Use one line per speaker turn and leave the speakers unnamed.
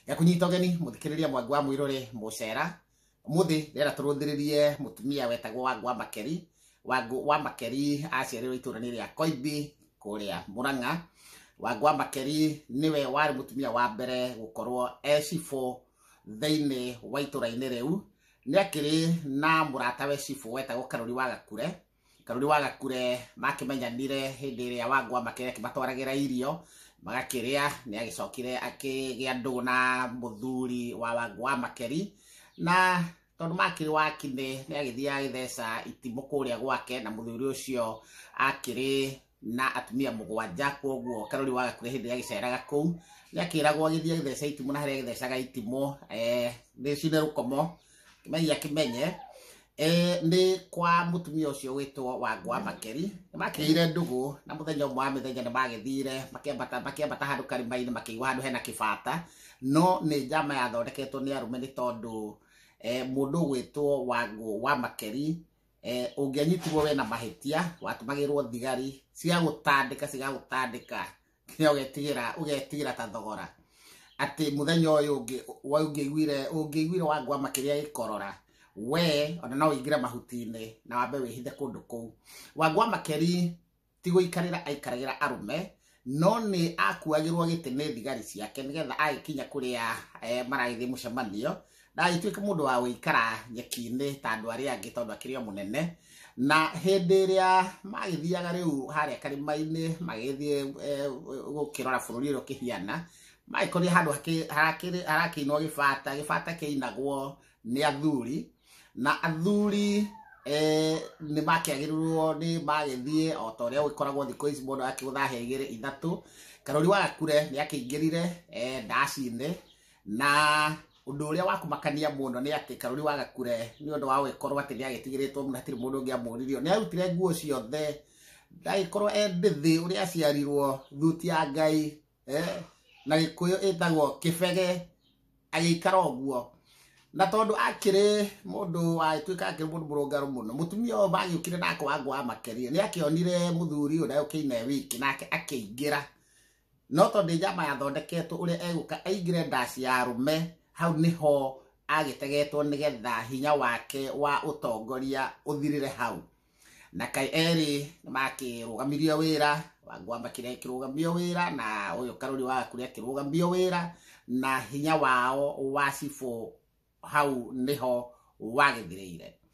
ya kunyita ũgeni mũthikĩrĩria mwangu wa mwĩrore mũcera mũthĩ rĩera tũrũthĩrĩrie mũtumia wetagwo wangu wa makeri wangu wa makeri aciarĩrwo itũra nĩ rĩa koimbi kũrĩa mũrang'a wangu wa makeri nĩwe warĩ mũtumia wa mbere gũkorwo ecibũ thĩinĩ wa itũra-inĩ rĩu nĩ akĩrĩ na mũratawe cibũ wetagwo karori wa gakure karuri wa gakure makĩmenyanire hĩndĩ ĩrĩa wangwa makĩrĩa akĩmatwaragĩra irio magakĩrĩa nĩ agĩcokire akĩgĩa ndũgũ na mũthuri wa wangwa makeri na tondũ makĩrĩ wakinĩ nĩ agĩthiaga agĩtheca itimũ kũrĩa gwake na mũthuri ũcio akĩrĩ na atumia mũgwanja koguo karori waga kuga hĩndĩ gagĩceraga kũu gakĩragwo gĩthiĩ gĩtheca itimũ na harĩa gĩthecaga itimũ eh, nĩ cine rũkomo kĩmenya kĩmenye eh, nĩ kwa mũtumia ũcio wĩtwo wangwa makeri nĩ makĩire ndũgũ na mũthenya ũmwe wa mĩthenya nĩ magĩthire makĩambata makĩambata handũ karima-inĩ makĩigua handũ hena kĩbata no nĩ njama yathondeketwo nĩ arũme nĩ tondũ eh, mũndũ ũgwĩtwo wangũ wa makeri eh, ũngĩanyitirwo we na mahĩtia watũmagĩrwo thigari cigagũtandĩka cigagũtandĩka nginya ũgetigĩra ũgetigĩra ta thogora atĩ mũthenya ũyũ ũngĩ wa- ũngĩiguire ũngĩiguire wangwa makĩria gĩkorora we ona no ũingĩre mahuti-inĩ na wambe wĩhithe kũndũ kũu wangwa makeri ti gũikarĩra aikaragĩra arũme no nĩ akuagĩrwo gĩtĩ nĩ thigari ciake nĩgetha agĩkinya kũrĩa eh, maragĩthiĩ mũcemanio ndagĩtuĩke mũndũ wa gũikara nyeki-inĩ ta andũ arĩa angĩ tondũ akĩrĩ o mũnene na hĩndĩ ĩrĩa magĩthiaga rĩu harĩa karĩma-inĩ magĩthiĩ eh, gũkĩrora bũrũri ũrĩa ũkĩhiana magĩkorire handũ hakĩ- harakĩrĩ- harakĩinwo gĩbata gĩbata kĩinagwo nĩ athuri na athuri eh, nĩ makĩagĩrĩrwo nĩ magĩthiĩ o ta ũrĩa gũgĩkoragwo thikũ ici mũndũ akĩgũtha hĩa igĩrĩ ithatũ karori wa gakure nĩ akĩingĩrire eh, ndaci-inĩ na ũndũ ũrĩa wakumakania mũno nĩ atĩ karori wa gakure nĩ ũndũ wa gũgĩkorwo atĩ nĩ agĩtigĩrĩtwo mũno hatirĩ mũndũ ũngĩ amũririo nĩ arutire nguo ciothe ndagĩkorwo e ndĩthĩ ũrĩa aciarirwo thuti ya ngai eh, na gikuyu itagwo kibege agikara uguo na tondu akiri mundu atuika akiri mundu murungaru muno mutumia uyu magiukire nake wangu wa makeria ni akionire muthuri uyu ndagukina wiki nake akiingira no tondu njama yathondeketwo uria eguka aingire ndaci ya rume hau niho agitegetwo nigetha hinya wake wa utongoria uthirire hau na kaĩ erĩ nĩ makĩrũgamirio wĩra wangwamba kĩrĩa kĩrũgamio wĩra na ũyũ karũri wa kũrĩa kĩrũgamio wĩra na hinya wao wa cibũ hau nĩho wagĩthirĩire